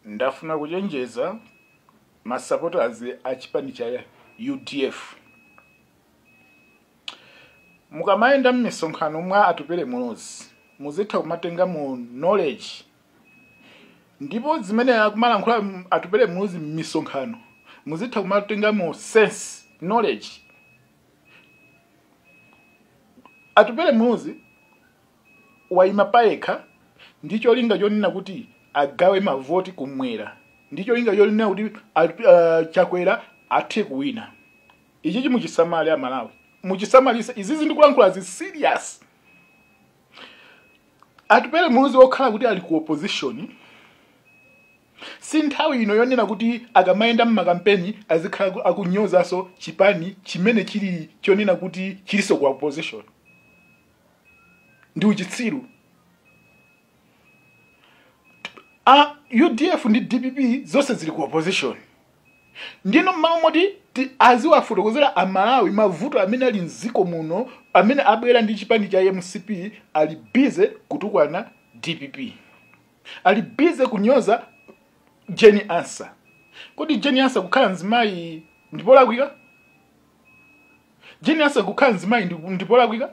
ndafuna kuchenjeza masupporters a chipani cha udf mukamayenda m'misonkhano mwa atupele muluzi muzitha kumatenga mu knowledge ndipo zimene akumalankhula m- atupele muluzi m'misonkhano muzitha kumatenga mu sense knowledge atupele muluzi waima payekha ndi cholinga chonena kuti agawe mavoti kumwera ndi cholinga chonena kuti a- a- chakwera athe kuwina ichichi muchisamale amalawi muchisamalise izizi ndikulankhula zi serious atupele muluzi wokhala kuti ali ku opposition si nthawi ino yonena kuti akamayenda mmakampeni azikhala aku- akunyozaso chipani chimene chili chonena kuti chilinso ku opposition ndi uchitsiru a udf ndi dpp zonse zili ku opposition nde m'malo moti ti- aziwafotokozera amalawi mavuto amene ali mziko muno amene abwera ndi chipani cha mcp ali busy kutukwana dpp ali busy kunyoza jane ansah kodi jane ansah kukhala mzimayi ndipolakwika jane ansah kukhala mzimayi ndi- ndipolakwika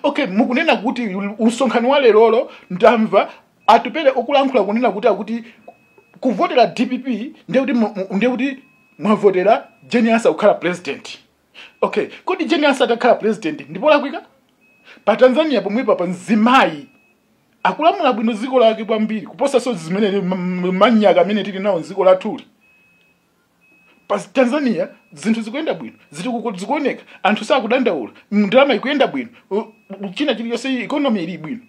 okay mukunena kuti msonkhano wa lerolo ndamva atupele akulankhula kunena kuti akuti kuvotera dpp ndiye kuti mu- mu- ndiye kuti mwavotera jane ansah kukhala president okay kodi jane ansah atakhala president ndipolakwika pa tanzania pomwepa pa mzimayi akulamula bwino dziko lake kwambiri kuposanso zimene m- m- manyaka amene tili nawo mdziko lathuli pa tanzania zinthu zikuyenda bwino ziti kuko- zikuoneka anthu sakudandaula ndalama ikuyenda bwino u- u- china chilichonse economy ili bwino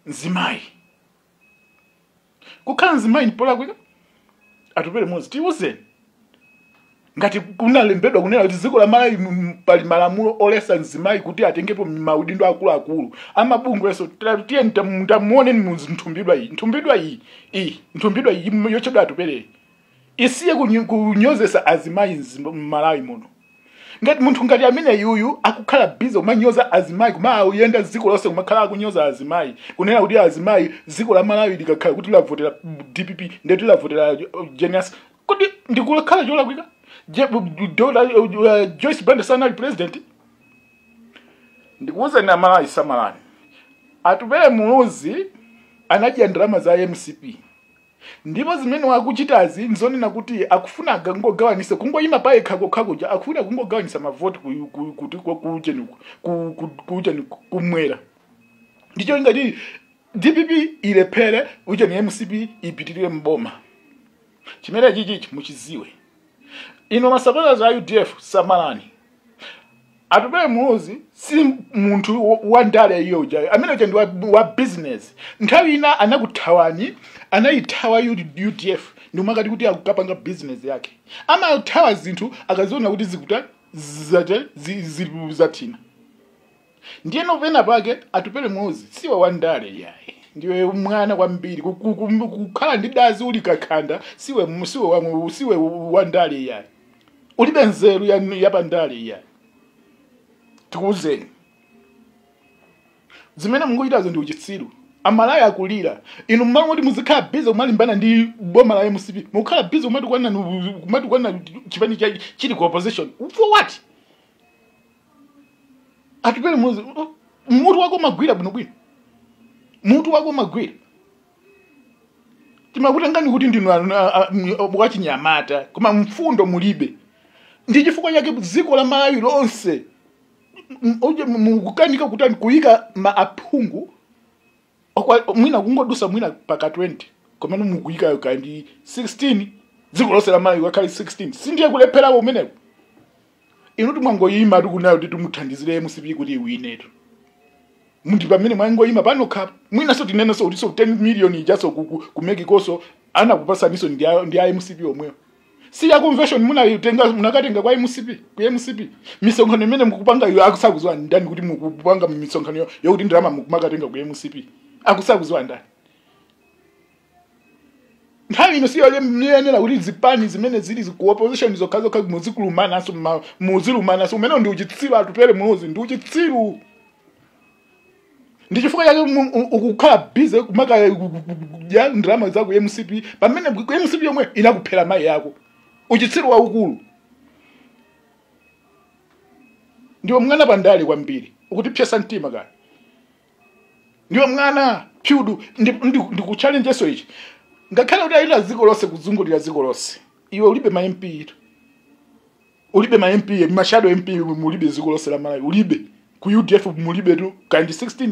mzimayi kukhala mzimayi ndipolakwika atupele muluzi tiuzeni ngati kunalembedwa kunena kuti dziko la malawi m- pali malamulo oletsa mzimayi kuti atengepo maudindo akuluakulu amabungweso tiyeni tamuoneni mnthumbidwa iyi nthumbidwa iyi iyi nthumbidwa iyi m- yotchedwa atupeleyi isiye kunyo- kunyozesa azimayi mzim- m'malawi muno ngati munthu ngati amene yuyu akukhala busy kumanyoza azimayi kumayenda dziko lonse kumakhala akunyoza azimayi kunena kuti azimayi dziko la malawi likakhala kuti lavotera dpp ndeti lavotera uh, jane ansah kodi ndikukhala cholakwika Je- bu- bu- Dr. uh, joyce banda sanali president ndikuwuzeni amalawi samalani atupele muluzi anadya ndalama za mcp ndipo zimene wakuchitazi n'zonena kuti akufuna akangogawanise kungoyima pa yekha kokha kuja akufuna kungogawanisa mavoti ku- ku- kuti ku- kuujeni ku- ku- ku- kuujeni ku- kumwera ndi cholinga choti dpp ilephere ujeni mcp ipitirire mboma chimene chichi muchiziwe ino masapota a udf samalani atupele muluzi si munthu wo- wa ndale iyo ujayo ameneyo uja ndi wa, wa business nthawi ina anakuthawani anayithawa U- udf nkumakati kuti akukapanga business yake amathawa zinthu akaziona kuti zikuta zate zi- zili zathina Ndiyeno penapake Atupele Muluzi siwa wandale yayi. Ndiwe mwana kwambiri ku- ku- ku- kukhala ndithu uli kakhanda siwe mu- siwe wa- siwe wandale yayi. Ulibe nzeru ya ya pandale yayi. Tikuwuzeni. Zimene mukuchitazo ndi uchitsiru. Amalawi akulira. Inu mmalo moti muzikhala busy kumalimbana ndi boma la MCP. Mukhala busy kumatukwana kumatukwana chipani chili ku opposition. For what? atupele muluzi oh, mutu wako umagwira bwinobwino mutu wako umagwira timakutengani kuti ndinu anu- a- a- m- a- wachinyamata koma mfundo mulibe ndi chifukwa chake dziko la malawi lonse m- m- uje- m- mukukanika kutani kuyika ma aphungu Okwa- mwina kungodusa mwina paka 20 komene mukuyikayo kaya ndi 16 dziko lonse la malawi akhale 16 sindiye kulepherawo kumeneko inu ndimwangoyima tikunayo kuti timuthandizire mcp kuti iwine pamene mwangoyima panokha mwinaso tinenenso kutiso 10 million ijaso kumekikoso anakupasaniso ndi a- ndi a mcp omwewo si ya convention munayitenga munakatenga kwa mcp ku mcp misonkhano imene mukupanga iyo akusaziwa ndani kuti mukupanga misonkhano yo- yokuti ndalama mukumakatenga ku mcp akusaziwa ndani nthawi ino siyoyenera kuti zipani zimene zili zi- ku opposition zokhazokha muzikulumanaso ma- muzilumananso umenewo ndi uchitsiru atupele muluzi ndi uchitsiru ndi chifukwa chake mu- u- ukukhala bize kumakadya kudya ndalama za ku mcp pamene ku mcp yomwe inakuphera mayi yako uchitsiru waukulu ndiwe mwana pandale kwambiri ukutipsetsa mtima kaya ndiwe mwana pure ndikuchallenjeso ichi ngakhale kuti uyenda dziko lonse kuzungulira dziko lonse iwe ulibe ma mp ulibe ma mp ma shadow mp mulibe dziko lonse la malawi ulibe ku udf mulibe tu khansala 16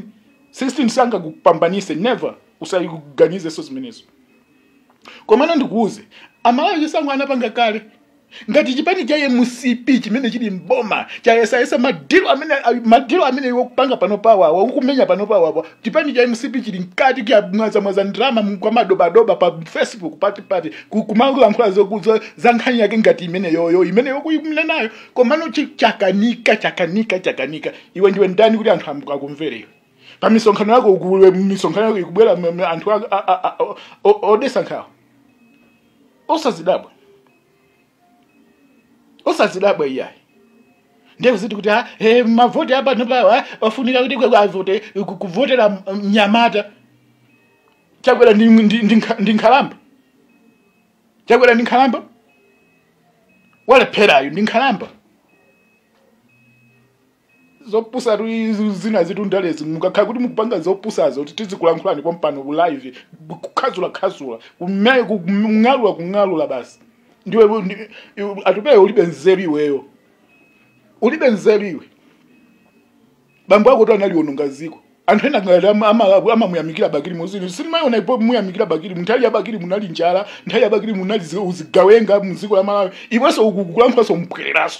16 sangakupambanise never usayiganizenso zimenezo komano ndikuuze amalawi chisankho anapanga kale ngati chipani cha mcp chimene chili mboma chayesayesa madilo amene madilo amene iwo kupanga pano pawawa ukumenya pano pawawa chipani cha mcp chili mkati kumwazamwaza ndalama kwa madobadoba pa facebook pati pati Ku- kumalankhula zokuzo za nkhani yake ngati imeneyoyo imene ukuinenayo komano chi- chakanika chakanika chakanika iwe ndiwe ndani kuti anthu amu- akumvere iwe pa misonkhano yako misonkhano yako kukubwera m- m- anthu a- a- a- a- o- o- odetsa nkhawa osadzidabwa osadzidabwa iyayi ndiye kuziti kuti ah, eh, mavoti apano pawa ofunika kuti kwe- avote ku- kuvotera m- mnyamata chakwera ndi, ndi, ndi, nkha- ndi nkhalamba chakwera ndi nkhalamba walepherayo ndi nkhalamba zopusatu izi zina zinthu ndalezi mukakhala kuti mukupanga zopusazo kuti tizikulankhulani pompano ku live kukhazula khazula kume- ku- kung'alula kung'alula basi ndiwe ndi- iwe- Atupele ulibe nzeru iweyo ulibe nzeru iwe bambo akotu analiononga dziko anthu ena ngati ama- ama- amamuyamikira bakili muluzi sindimayiona pomuyamikira bakili nthawi ya bakili munali njala nthawi ya bakili munali zi- uzigawenga mdziko la malawi iwenso ukulankhulanso mbwereranso